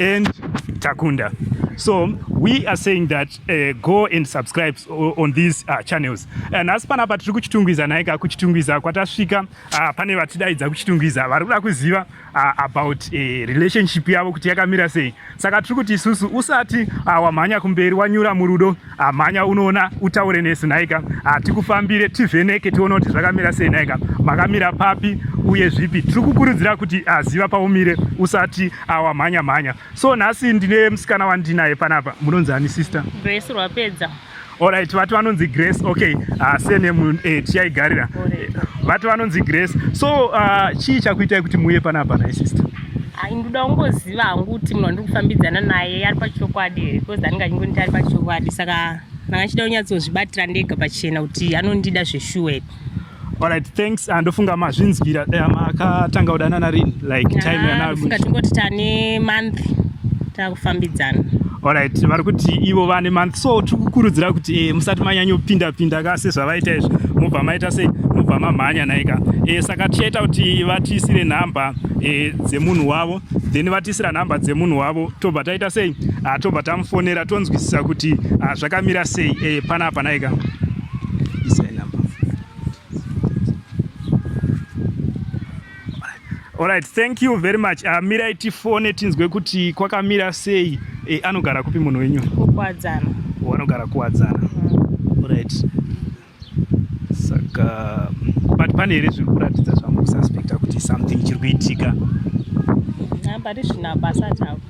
and takunda so we are saying that uh, go and subscribe on these uh, channels uh, nhasi uh, panapa tiri kuchitungwiza naika kuchitungwiza kwatasvika uh, pane vatidaidza kuchitungwiza vari kuda kuziva uh, about uh, relationship yavo kuti yakamira sei saka tiri kuti isusu usati uh, wamhanya kumberi wanyura murudo Ah, mhanya unoona utaure nesu nhaika ah, tikufambire tivheneke tione kuti zvakamira sei nhaika makamira papi uye zvipi tiri kukurudzira kuti ah, ziva paumire usati awamhanya mhanya so nhasi ndine musikana wandinaye panapa munonzi ani sister grace rwapedza orit vati vanonzi grace okay uh, senemu eh, tichaigarira vati vanonzi grace so uh, chii chakuitai kuti muuye panapa nhaisister Hai ndoda kungoziva hangu kuti munhu wandiri kufambidzana naye ari pachokwadi here because anenge achingonita ari pachokwadi saka ndanga ndichida kunyatsozvibatira ndega pachena kuti anondida zveshuwa here Alright, thanks. Ah, ndofunga mazvinzwira eh, makatanga kudanana rini like time ah, yana. Ndofunga tingoti tane month takufambidzana. Alright, vari kuti ivo vane month so tikukurudzira kuti eh, musati manyanyopinda pinda ka sezvavaita izvi mubva maita sei mubva mamhanya naika eh, saka tichaita kuti vatiisire nhamba e, dzemunhu wavo then vatisira nhamba dzemunhu wavo tobva taita sei ah, tobva tamufonera tonzwisisa kuti ah, zvakamira sei e, panapa naika Alright, thank you very much. Uh, mirai tifone tinzwe kuti kwakamira sei. Eh, anogara kupi munhu wenyu? Kukwadzana. Wanogara kuwadzana. Mm. Alright. saka but pane here zviri kuratidza zvamukususpecta kuti something chiri kuitika but zvina basa chavo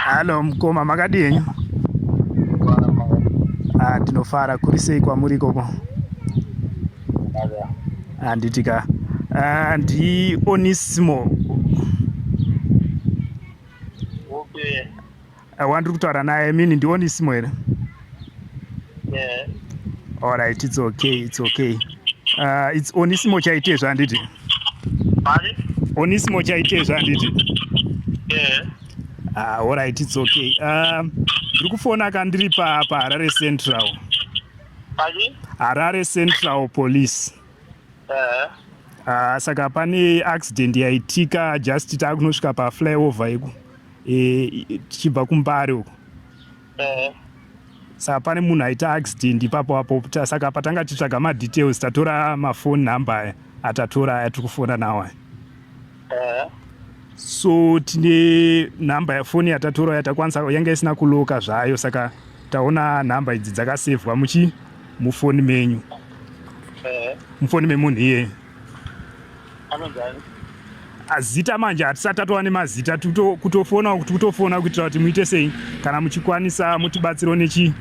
Halo mkoma, makadi henyu? Ah, tinofara. Kuri sei kwamuri ikoko? Handiti ka. Ah, ndi Onisimo. Okay. Eh, wandiri kutaura naye i mean ndionisimo here alright its okay its okay uh, its onisimo chaitezvo handiti onisimo chaitezvo handiti ah, alright its okay uh, ndiri kufona ka ndiri paharare central harare central police eh. ah, saka pane accident yaitika just taakunosvika paflyover iku eh, tichibva kumbare uko eh. saka pane munhu aita accident ipapo apo saka patanga titsvaga madetails tatora mafoni number aya atatora aya tiri kufona nawo aya eh. so tine number yafoni yatatora yatakwanisa yanga isina kuloka zvayo saka taona number idzi dzakasevhwa muchi mufoni menyu mufoni memunhu iyeye zita manje hatisati tatova nemazita kutofona kuti kutofona kuitira kuti muite sei kana muchikwanisa mutibatsiro nechi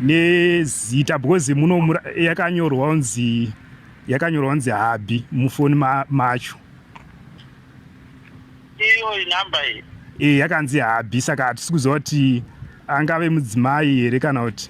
nezita because muno yakanyorwa unzi yakanyorwa unzi habi mufoni macho iyo inamba iyi e yakanzi habi saka hatisi kuziva kuti angave mudzimai here kana kuti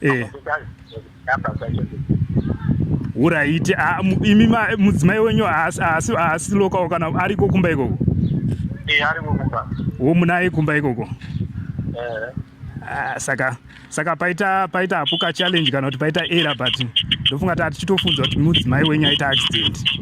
eh. uraiti ah, imi mudzimai wenyu haasi lokawo kana ariko kumba ikoko eh, womunaye kumba ikoko eh. ah, saka saka paita paita hapuka challenge kana kuti paita era but ndofunga tati chitofunzwa kuti mudzimai wenyu aita accident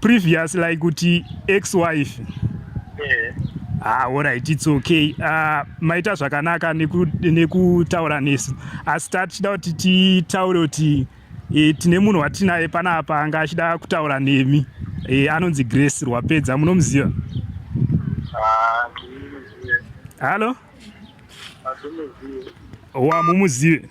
previous like kuti ex wife eh. ah, orit its okay uh, maita zvakanaka nekutaura neku nesu asi ta tichida kuti titaure kuti e, tine munhu watinaye pana apa anga achida kutaura nemi e, anonzi grace rwapedza munomuziva ah, hallo wamumuzive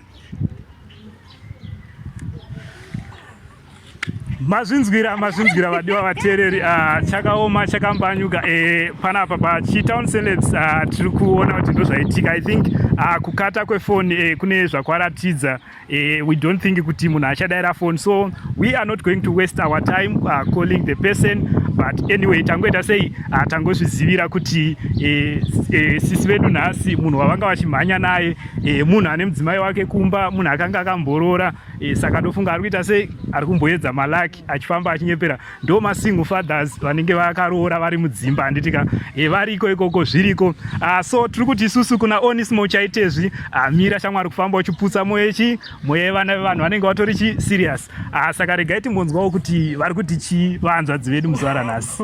mazvinzwira mazvinzwira vadiwa vateereri ah, chakaoma chakambanyuka eh, panapa pachitown celebs ah, tiri kuona kuti ndozvaitika i think ah, kukata kwefoni eh, kune zvakwaratidza Uh, we don't think kuti munhu achadaira phone so we are not going to waste our time uh, calling the person but anyway tangoita sei uh, tangozvizivira kuti uh, uh, sisi vedu nhasi munhu wavanga vachimhanya naye uh, munhu ane mudzimai wake kumba munhu akanga akamborora uh, saka ndofunga ari kuita sei ari kumboedza malaki achifamba achinyepera ndo masingle fathers vanenge vakaroora vari mudzimba handiti ka e, variko ikoko zviriko uh, so tiri kuti isusu kuna onismo chaitezvi amira ah, shamwari kufamba uchiputsa moyo chi moyo yevana vevanhu vanenge vatori chi serious uh, saka regai timbonzwawo kuti vari kuti chii vahanzvadzi vedu muzuva ranhasi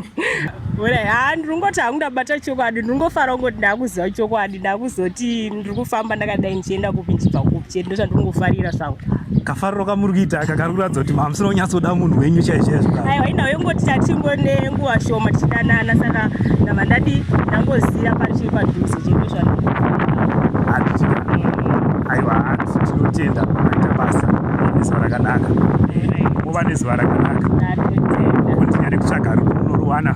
haa ndiri kungoti hangu ndabata chokwadi ndiri kungofara kungoti ndakuziva chokwadi ndakuzoti ndiri kufamba ndakadai ndichienda kupi ndichibva kupi chete ndozvandinongofarira zvangu kafariro kamuri kuita aka kari kuratidza kuti mamusina kunyatsoda munhu wenyu chaizvoaiwa ina yongoti tatingo nenguva shoma tichidanana saka ndava ndadi ndangoziva pari chiri padhuze chete zvangu aiwa hanzi tinotenda aita basa nezuva rakanaka kuva nezuva rakanaka kondinyare kutsvaga rukunoruwana